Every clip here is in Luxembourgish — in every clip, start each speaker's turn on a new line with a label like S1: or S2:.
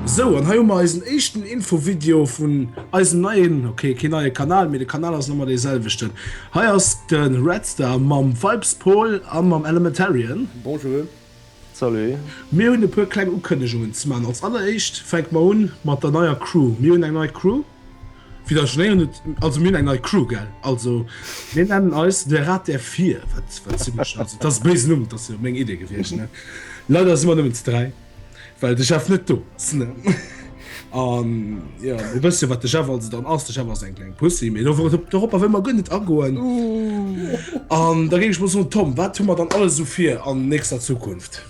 S1: Sou, an hei hu mer eisen éischten Infovideo vun eisem neien, okay, kee neie Kanal, mee de Kanal ass nach ëmmer dee selwechten. Hei ass de Redstar mam Vibespol a mam Elementarian. Bonjour. Salut. Mir hunn e puer kleng Ukënnegungen ze maachen. Als alleréischt fänke mer un mat der neier Crew. Mir hunn eng nei Crew. Fir der Schnee net also mir eng nei Crew gell also mir nennen eis de Rat der Vier das bes Numm dat se meng Idee gewicht ne Leider si man nëmmen ze dräi well de Chef net do ass ne an ja e bësse wat de Chef also dann ass de Chef ass eng kleng Pussy mee do wor dorop a wëll mer guer net agoen an da géif ech mol soen Tom wat hu mer dann alles esou fir an nächster Zukunft?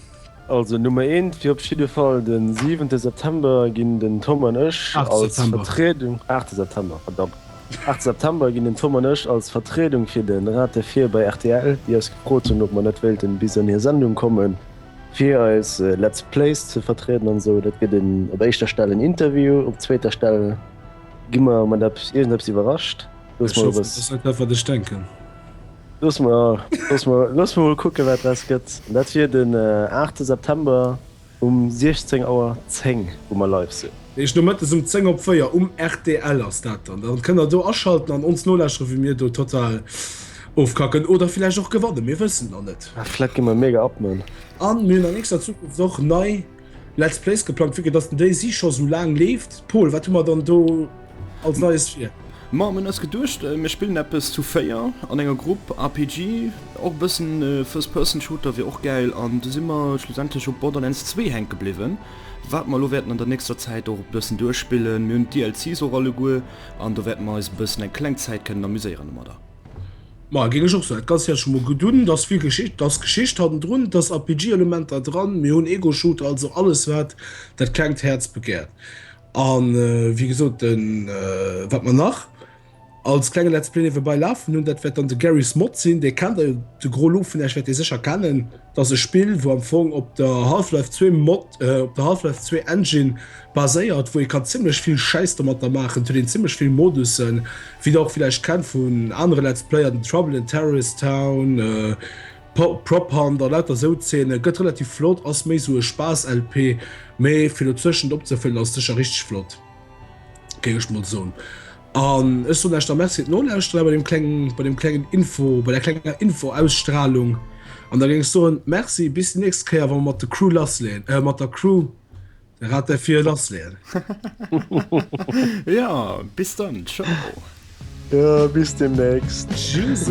S1: Also Nummer eent wier op jidde Fall de siwente September ginn den Tom an ech als Vertriedung, aachte September, verdammt, aachte September ginn den Tom an ech als Vertriedung fir de Rate vir bei rtl, déi eis gefrot hunn, ob mer net wéilten bis an hir Sendung komme fir eis Let's Plays ze vertrieden an esou. Dat gëtt op éischter Stell en Interview, op zweeter Stell gi mer mat eppes, iergendeppes iwwerrascht. Looss mal eppes. Ech hoffen, dass dat dat wat ech denken. Looss mer, looss mer, looss mer mol kucken, wat draus gëtt. Dat wier den 8. September um 16 Auer 10, wou mer live sinn. Dat heescht nomëttes um 10 op 4 um rtl ass dat dann. Dann kënnt der do aschalten an ons nolauschteren, wéi mir do total ofkacken oder villäicht och gewannen. Mir wëssen et nach net. Vläicht gi mer mega abnënn. A mir hunn an nächster Zukunft och nei. Let's Plays geplangt, vu dass den déi si scho sou laang leeft. Pol, wat hu mer dann do als Neies fir? Ma mën ass geduecht, mir spillen eppes zu 4 an enger Grupp RPG, och bëssen First Person Shooter wier och gäil an du si mer schlussendlech op Borderlands 2 hänke bliwwen, wat mer elo wäerten an der nächster Zäit och bëssen duerchspillen. Mir hunn d'DLCs och alleguer an do wäerte mer eis e bëssen eng kleng Zäit kënnen amuséieren domadder. Maja géing ech och soen. Dat ganzt hätt ech mol gudd un. Et ass vill Geschicht, et ass Geschicht hattendrun, et ass RPG Elementer dran, mir hunn Ego Shooter, also alles wat dat klengt Häerz begäert. An wéi gesot den wat mer nach als klenge Let's Play niewebei lafen hunn, dat wäert dann de Garry's Mod sinn, dee kennt der jo, de gros Lo vun iech wäert dee sécher kennen. Et ass e Spill, wou am Fong op der Half-Life 2 Mod, op der Half-Life 2 Engine baséiert, wou ee kann zimmlech vill Schäiss domatter maachen. Et huet een zimmlech vill Modussen, wéi der och villäicht kennt vun anere Let's Player, den Trouble in Terrorist Town, Prop Hunt a lauter esou Zeene. Gëtt relativ flott, ass méi esou e Spaass-LP, mee fir dozwëschent opzefëllen ass sécher richteg flott, géing ech mol soen. An ech soen Eischt da Merci fir d'Nolauschterer bei dem klengen, bei dem klengen Info, bei der klenger Info-Ausstrahlung. An da géing ech soen, Merci, bis déi nächst Kéier, wa mer mat der Crew lassleeën, äh, mat der Crew de Rat der Vier lassleeën. Ja, bis dann, ciao. Ja, bis demnächst. Tschüss.